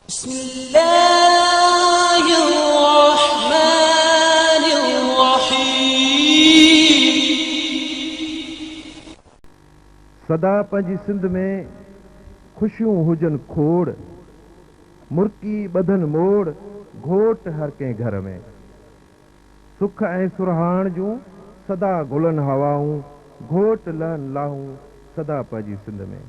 بسم الله الرحمن الرحيم. سدا پنهنجي سنڌ ۾ خوشيون هجن کوڙ، مرڪي ٻڌن موڙ گهوٽ هر ڪنهن گهر ۾. سک ۽ سرهاڻ جون سدا گهلن هوائون گهوٽ لهن لاهون سدا پنهنجي سنڌ ۾.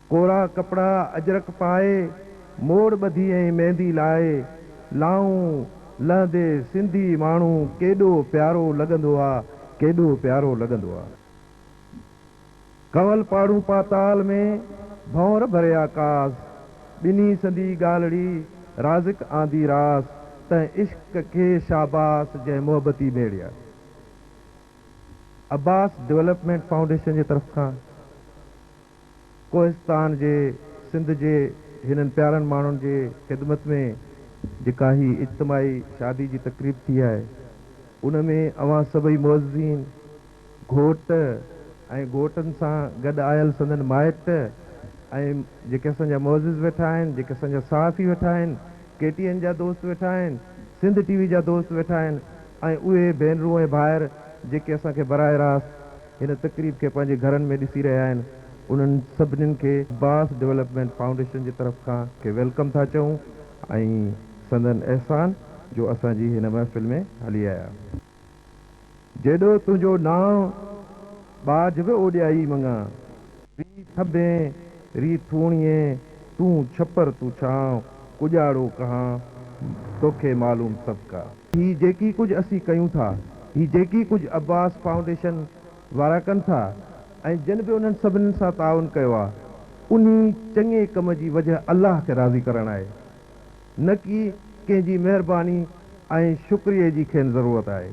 ڪورا ڪپڙا اجرڪ پائي، موڙ ٻڌي ۽ ميندي لائي، لائون لهندي سنڌي ماڻهو ڪيڏو پيارو لڳندو آ، ڪيڏو پيارو لڳندو آ. ڪنول پاڙون پاتال ۾، ڀنور ڀريا ڪاس، ٻنهي سندي ڳالهڙي، رازق آندي راس، تنهن عشق کي شاباس جنهن محبتي ميڙيا. عباس ڊولپمينٽ فائونڊيشن جي طرف کان. ڪوهستان جي سنڌ جي هنن پيارن ماڻهن جي خدمت ۾ جيڪا هي اجتماعي شادي جي تقريب ٿي آهي ان ۾ اوهان سڀئي معززين گهوٽ ۽ گهوٽن سان گڏ آيل سندن مائٽ ۽ جيڪي اسان جا معزز ويٺا آهن جيڪي اسان جا صحافي ويٺا آهن ڪي ٽي اين جا دوست ويٺا آهن سنڌ ٽي وي جا دوست ويٺا آهن ۽ اهي ڀينرون ۽ ڀائر جيڪي اسان کي براه راست هن تقريب کي پنهنجي گهرن ۾ ڏسي رهيا آهن انهن سڀنين کي عباس ڊولپمينٽ فائونڊيشن جي طرف کان کي ويلڪم ٿا چئون ۽ سندن احسان جو اسان جي هن محفل ۾ هلي آيا جيڏو تنهنجو نانء ٻاجهه به اوڏيائي مڱان. ري ٿٻين، ري ٿوڻيي، تون ڇپر تون ڇانء، ڪڄاڙو ڪهان، توکي معلوم سڀ ڪا. هي جيڪي ڪجهه اسين ڪيون ٿا، هي جيڪي ڪجهه عباس فائونڊيشن وارا ڪن ٿا ۽ جن به انهن سڀني سان تعاون ڪيو آ، انهي چڱي ڪم جي وجه الله کي راضي ڪرڻ آهي، نه ڪي ڪنهن جي مهرباني ۽ شڪريي جي کين ضرورت آهي.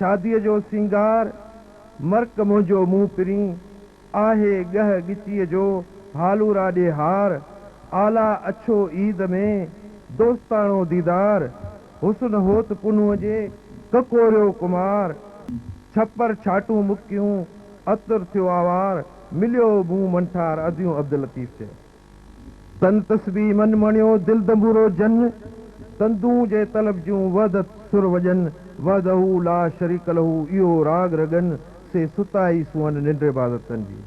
شاديء جو سينگار، مرڪ منهنجو منهن پرين آهي ڳهه ڳچيء جو هالو را ڏي هار آلا اڇو عيد ۾ دوستاڻو ديدار حسن هوت پنهونء جي ڪڪوريو ڪمار ڇپر ڇاٽون مڪيون عطر ٿيو آوار مليو مون منٺار اديون عبداللطيف چئي. تن تسبيح من مڻيو دل دنبورو جن تندون جي طلب جون وحدت سر وڄن وحده لا شريڪ له اهو راڳ رڳن سي ستائي سونهن ننڊ عبادتن جي.